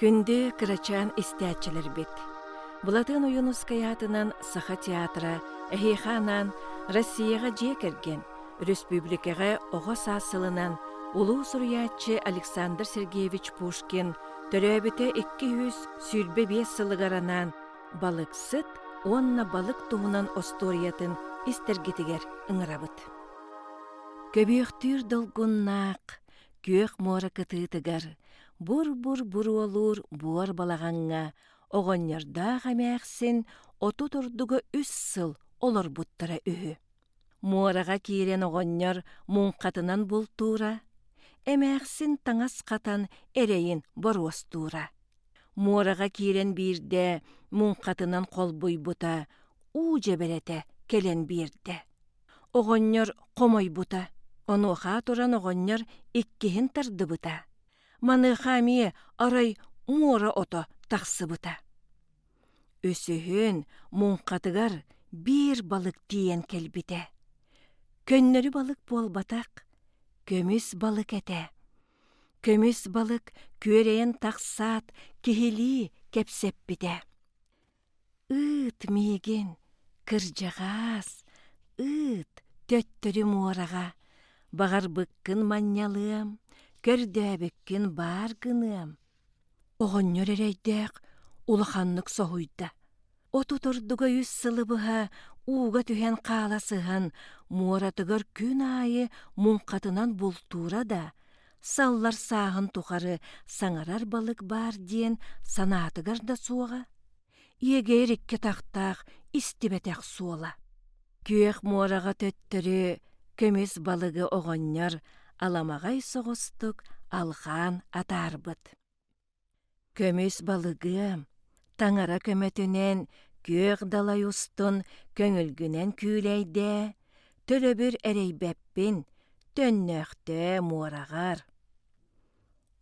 Күндү кырачаан истээччилэрбит! Былатыан Ойуунускай аатынан Саха театра эһиэхэ анаан Россияҕа дьиэ кэргэн, өрөспүүбүлүкэҕэ оҕо саас сылынан улуу суруйааччы Александр Сергеевич Пушкин төрөөбүтэ икки сүүс сүүрбэ биэс сылыгар анаан Балыксыт уонна балык туһунан остуоруйатын истэргитигэр ыҥырабыт. Көбүөхтүүр долгуннаах, күөх муора кытыытыгар бур-бур буруолуур буор балаҕаҥҥа оҕонньордоох эмээхсин отут ордуга үс сыл олорбуттара үһү. Муораҕа киирэн оҕонньор муҥхатынан бултуура, эмээхсин таҥас хатан эрэйин боруостуура. муораҕа киирэн биирдэ муҥхатынан холбуйбута уу дьэбэрэтэ кэлэн биэрдэ оҕонньор хомойбута онуохаа туран оҕонньор иккиһин тардыбыта маныаха эмиэ арай муора ото тахсыбыта үсүһүн муҥхатыгар биир балык тиийэн кэлбитэ көннөрү балык буолбатах көмүс балык этэ көмүс балык күөрэйэн тахсаат киһилии кэпсэппитэ ыыт миигин кырдьаҕаас ыыт төттөрү муораҕа баҕарбыккын манньалыам көрдөөбүккүн баар гыныам Оҕонньор эрэйдээх улаханнык соһуйда. От утурдуга үс сылы быһа ууга түһэн хаала сыһан, муоратыгар күн аайы муҥхатынан бултуура да, саллар сааһын тухары саҥарар балык баар диэн санаатыгар да суоҕа. иэгэйэр икки атахтаах истибэтэх суола күөх муораҕа төттөрү көмүс балыгы оҕонньор аламаҕай соҕустук алҕаан атаарбыт көмүс балыгым таҥара көмөтүнэн күөх далай устун көҥүлгүнэн күүлэйдээ төлөбүр эрэйбэппин төннөөхтөө муораҕар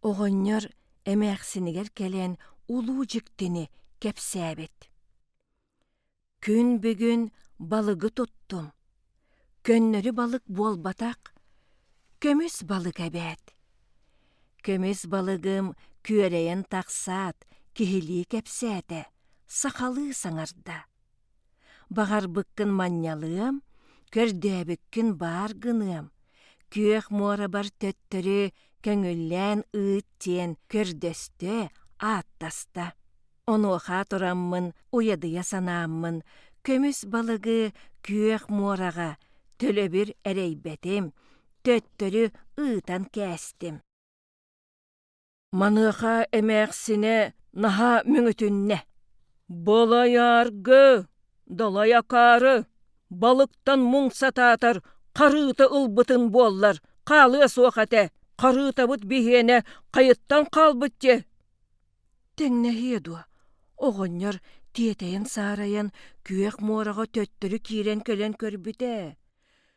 оҕонньор эмээхсинигэр кэлэн улуу дьиктини кэпсээбит күн бүгүн балыгы туттум көннөрү балык буолбатах көмүс балык эбээт көмүс балыгым күөрэйэн тахсаат киһилии кэпсээтэ сахалыы саҥарда Баҕарбыккын манньалыам, көрдөөбүккүн баар гыныам, күөх муорабар төттөрү көҥүллээн ыыт диэн көрдөстө, ааттаста. Онуоха тураммын уйадыйа санааммын, көмүс балыгы күөх муораҕа төлөбүр эрэйбэтим, төттөрү ыытан кээстим. Маныаха эмээхсинэ наһаа мөҥүтүннэ: «Былайааргы, далайакаары, балыктан муҥ сатаатар харыыта ылбытым буоллар, хаалыа суох этэ, харыытабыт биһиэнэ хайыттан хаалбыт диэ» Тэҥнэһиэ дуо, оҕонньор тиэтэйэн-саарайан күөх муораҕа төттөрү киирэн кэлэн көрбүтэ: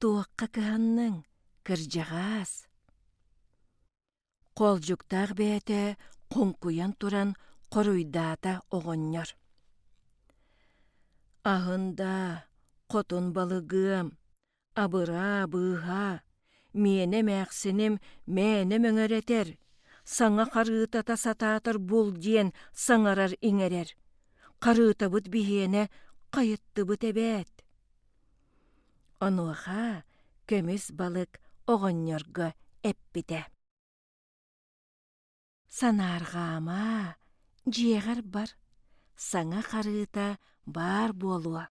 туохха кыһанныҥ, кырдьаҕаас? Холдьуктаах бэйэтэ хоҥкуйан туран хоруйдаата оҕонньор. Аһын даа, хотун балыгыам, абыраа быыһаа, миэнэ эмээхсиним мээнэ мөҥөрөтөр, саҥа харыытата сатаатар бул диэн саҥарар-иҥэрэр. Харыытабыт биһиэнэ, хайыттыбыт эбээт. Онуоха көмүс балык оҕонньорго эппитэ: «Санаарҕаама, дьиэҕэр бар, саҥа харыыта баар буолуо».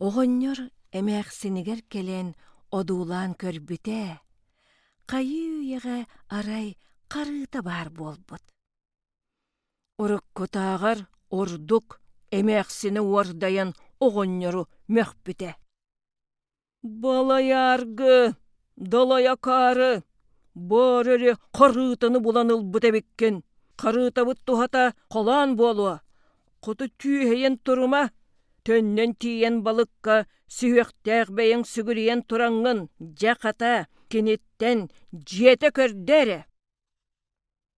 Оҕонньор эмээхсинигэр кэлэн одуулаан көрбүтэ, хайыы-үйэҕэ арай харыыта баар буолбут. Уруккутааҕар ордук эмээхсини уордайан оҕонньору мөхпүтэ «Балайааргы, далайакаары, баар эрэ харыытаны булан ылбыт эбиккин, харыытабыт туһата халаан буолуо, хоту түөһэйэн турума, төннөн тиийэн балыкка сүһүөхтээх бэйэҥ сүгүрүйэн тураҥҥын, дьэ, хата, киниттэн дьиэтэ көрдө эрэ!»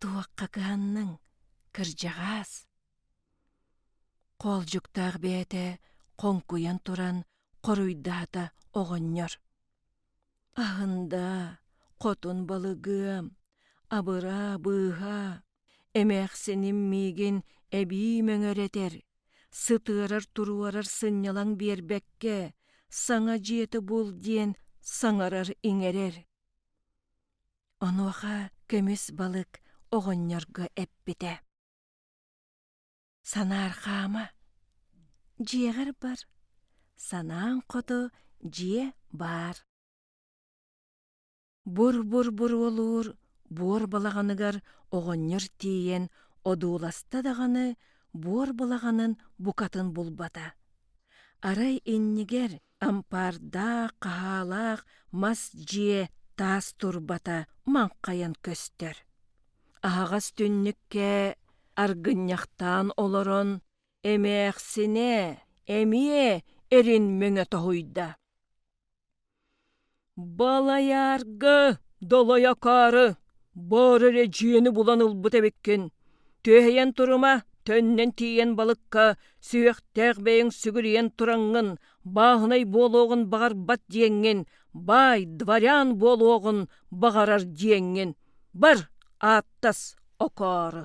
Туохха кыһанныҥ, кырдьаҕаас? Хоолдьуктаах бэйэтэ хоҥкуйан туран хоруйдаата оҕонньор. Аһында, хотун балыгым, абыраа быыһа, эмээхсиним миигин эбии мөҥөрөтөр, сытыарар-туруорар сынньалаҥ биэрбэккэ, саҥа дьиэтэ бул диэн саҥарар-иҥэрэр. Онуоха көмүс балык оҕонньорго эппитэ: «Санаар хаама, дьиэҕэр бар, санааҥ хоту дьиэ баар». Бур-бур-бур уолуур буор балаҕаныгар оҕонньор тиийэн одууласта даҕаны, буор балаҕанын букатын булбата. Арай иннигэр ампаардаах хаһаалаах мас дьиэ таас турбата маҥхайан көстөр аһаҕас түннүккэ аргынньахтаан олорон эмээхсинэ эмиэ эрин мөҥө тоһуйда Балайаарга долойокоору, боор эрэ дьиэни булан ылбыт эбиккин. Түөһэйэн турума, төннөн тиийэн балыкка сүһүөхтээх бэйэҥ сүгүрүйэн тураҥҥын, бааһынай буолуоҕун баҕарбат диэҥҥин, баай дворян буолуоҕун баҕарар диэҥҥин. Бар, ааттас окоору.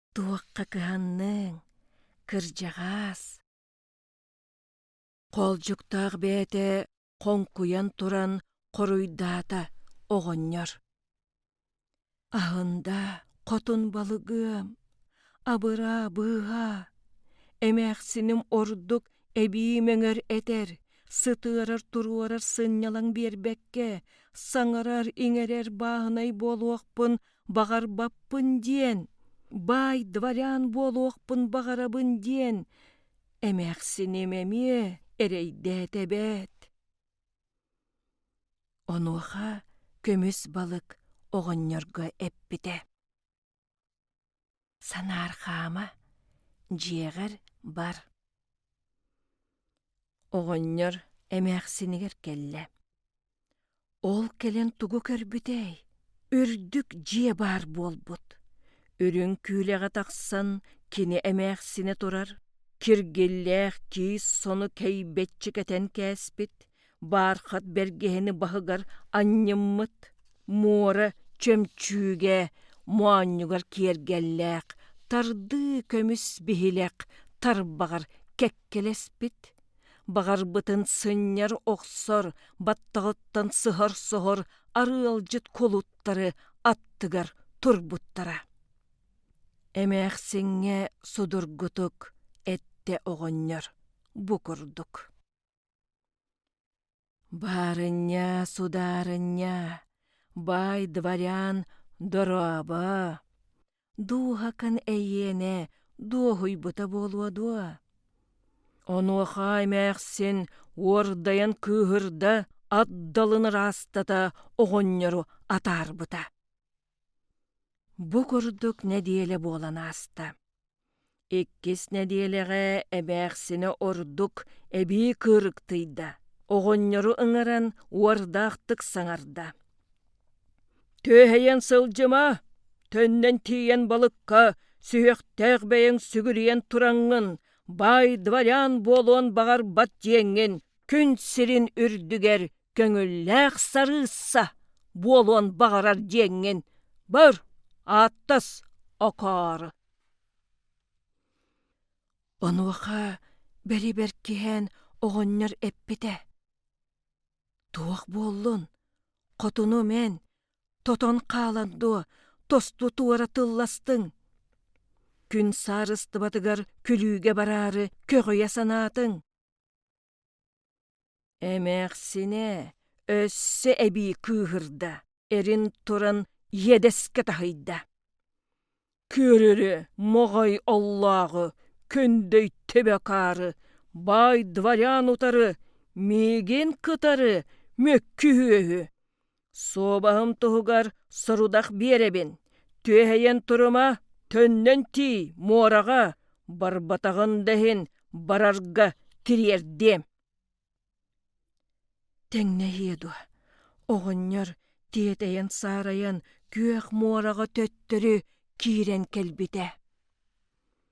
Туохха кыһанныҥ, кырдьаҕас? Холдьуктаах бэйэтэ хоҥкуйан туран хоруйдаата оҕонньор: «Аһында хотун балыгым, абыраа быыһа, эмээхсиним ордук эбии мөҥөр этэр, сытыарар-туруорар сынньалаҥ биэрбэккэ, саҥарар-иҥэрэр бааһынай буолуохпун баҕарбаппын диэн, баай дворян буолуохпун баҕарабын диэн эмээхсиним эмиэ эрэйдээтэ эбээт. Онуоха көмүс балык оҕонньорго эппитэ: Санаар хаама, дьиэҕэр бар. Оҕонньор эмээхсинигэр кэллэ. Ол кэлэн тугу көрбүтэй? Үрдүк дьиэ баар буолбут. Үрүҥ күүлэҕэ тахсан кини эмээхсинэ турар, киргиллээх тиис сону кэйбэччи кэтэн кээспит, баархат бэргэһэни баһыгар анньыммыт муора чөмчүүгэ моонньугар киэргэллээх тардыы көмүс биһилэх тарбаҕар кэккэлэспит баҕарбытын сынньар охсор баттаҕыттан сыһар-соһор арыалдьыт кулуттары аттыгар турбуттара эмээхсиҥҥэ судургутук эттэ оҕонньор бу курдук Барыння, сударыння, бай дворян дорообо! Дууһакын эйиэнэ дуоһуйбута буолуо дуо? Онуоха эмээхсин уордайан кыыһырда, ат далын ыраастата оҕонньору атаарбыта. Бу курдук нэдиэлэ буолан ааста. Иккис нэдиэлэҕэ эбээхсинэ ордук эбии кыырыктыйда, оҕонньору ыҥыран уордаахтык саҥарда. «Түөһэйэн сылдьыма, төннөн тиийэн балыкка сүһүөхтээх бэйэҥ сүгүрүйэн тураҥҥын, баай дворян буолуон баҕарбат дьиэҥҥин күн сирин үрдүгэр көҥүллээх сарыысса буолуон баҕарар дьиэҥҥин, бөр, ааттас, окоор!» Онуоха бэрибэр киһээн оҕонньор эппитэ: «Туох буоллун, хотуну мэн, тотон хаалан дуо, тосту туора тылластыҥ. Күн саарыстыбатыгар күлүүгэ бараары көҕүйэ санаатыҥ. Эмээхсинэ өссө эбии кыыһырда, эрин туран иэдэскэ таһыйда. Күөрүрү моҕой оллооҕу күндөй төбөкаары, баай дворян утары миигин кытары мөккү үөһү Суобаһым туһугар сорудах биэрэбин, түөһэйэн турума, төннөн тии, муораҕа, барбатаҕын да иһин, барарга тириэрдиэм. Тэҥнэһиэ дуо, оҕонньор тиэтэйэн-саарайан күөх муораҕа төттөрү киирэн кэлбитэ.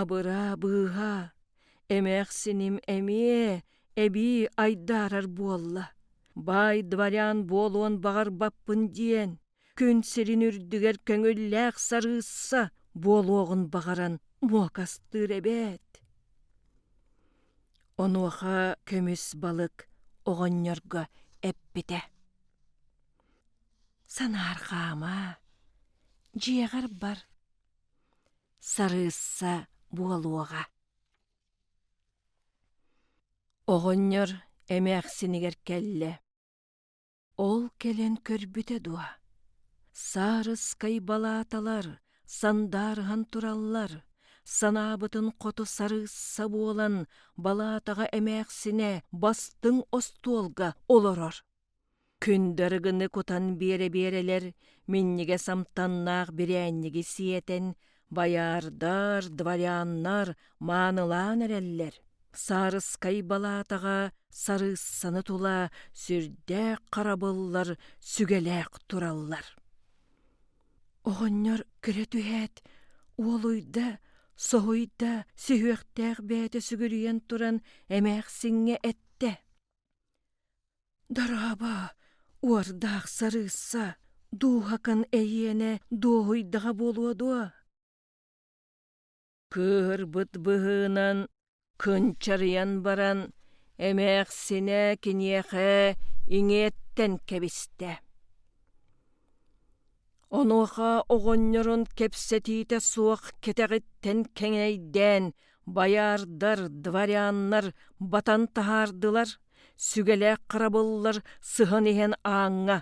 Абыраа, быыһаа, эмээхсиним эмиэ эбии айдаарар буолла. Баай дворян буолуон баҕарбаппын диэн, күн сирин үрдүгэр көҥүллээх сарыысса буолуоҕун баҕаран муокастыыр эбээт. Онуоха көмүс балык оҕонньорго эппитэ: «Санаар хаама, дьиэҕэр бар. сарыысса буолуоҕа оҕонньор эмээхсинигэр кэллэ ол кэлэн көрбүтэ дуо саарыскай балааталар сандаарыһан тураллар санаабытын хоту сарыысса буолан балаатаҕа эмээхсинэ бастыҥ остуолга олорор Күндү арыгыны кутан биэрэ-биэрэлэр минньигэс амтаннаах бирээнньиги сиэтэн байаардар, дворяннар маанылаан эрэллэр. Саарыскай балаатаҕа сарыыссаны тула сүрдээх харабыллар сүгэлээх тураллар. Оҕонньор күлэ түһээт, уолуйда, соһуйда, сүһүөхтээх бэйэтэ сүгүрүйэн туран эмээхсиҥҥэ эттэ: Дорообо, уордаах сарыысса, дууһакын эйиэнэ дуоһуйдаҕа буолуо дуо? Кыырбыт быһыынан кынчарыйан баран, эмээхсинэ киниэхэ иҥиэттэн кэбистэ. Онуоха оҕонньорун кэпсэтиитэ суох кэтэҕиттэн кэҥэйдээн байаардар, дворяннар батан таһаардылар, сүгэлээх харабыллар сыһан иһэн ааҥҥа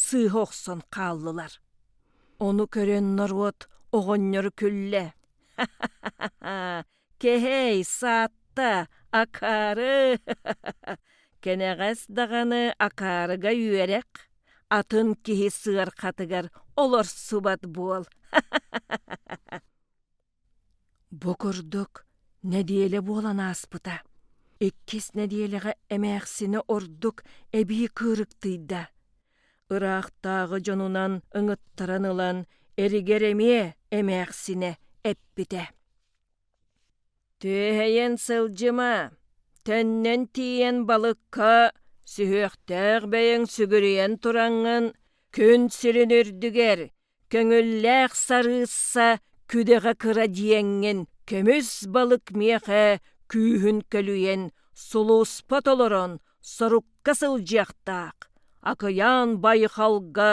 сыыһа охсон хааллылар. Ону көрөн норуот оҕонньору күллэ: Кэһэй, саатта, акаары, кэнэҕэс даҕаны акаарыга үөрэх, атын киһи сыарҕатыгар олорсубат буол. Бу курдук нэдиэлэ буолан ааспыта. Иккис нэдиэлэҕэ эмээхсинэ ордук эбии кыырыктыйда. Ыраахтааҕы дьонунан ыҥыттаран ылан эригэр эмиэ эмээхсинэ эппитэ: түөһэйэн сылдьыма төннөн тиийэн балыкка сүһүөхтээх бэйэҥ сүгүрүйэн тураҥҥын күн сирин үрдүгэр көҥүллээх сарыысса күдэҕэ кыра дьиэҥҥин көмүс балык миэхэ күүһүн көлүйэн сулууспа толорон сорукка сылдьыахтаах акыйаан байҕалга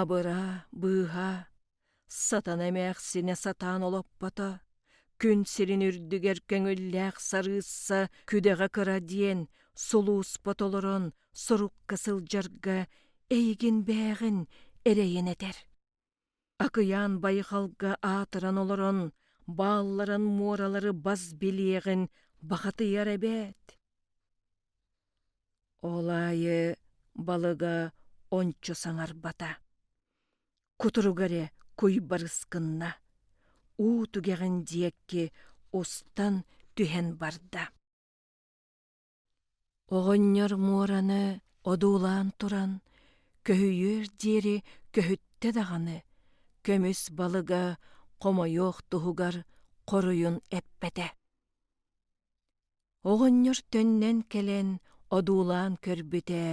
Абыраа, быыһаа, сатана эмээхсинэ сатаан олоппото, күн сирин үрдүгэр көҥүллээх сарыысса күдэҕэ кыра диэн сулууспа толорон сурукка сылдьарга эйигин бээҕин эрэйэн этэр. Акыйаан байҕалга аатыран олорон баалларын муоралары бас билиэҕин бахатыйар эбээт. Ол аайы балыга ончу саҥарбата. Кутуруга эрэ куй барыс гынна. Уу түгэҕин диэкки устан түһэн барда. Оҕонньор муораны одуулаан туран, көһүйүөр диэри көһүттэ даҕаны, көмүс балыга хомойуох туһугар хоруйун эппэтэ. Оҕонньор төннөн кэлэн одуулаан көрбүтэ,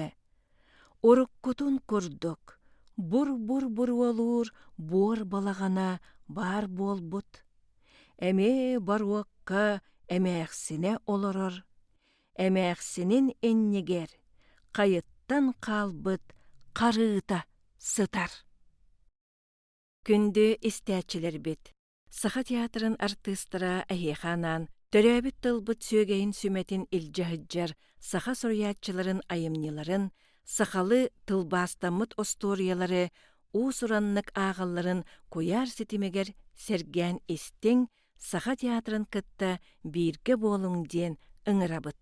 уруккутун курдук бур-бур-бур уолуур буор балаҕана баар буолбут, эмиэ боруокка эмээхсинэ олорор, эмээхсинин иннигэр хайыттан хаалбыт харыыта сытар. Күндү истээччилэрбит! Саха театрын артыыстара эһиэхэ анаан төрөөбүт тылбыт сүөгэйин сүмэтин илдьэ сылдьар саха суруйааччыларын айымньыларын, сахалы тылбаастаммыт остуоруйалары, уус-ураннык ааҕалларын куйаар ситимигэр сэргээн истиҥ, саха театрын кытта бииргэ буолуҥ диэн ыҥырабыт.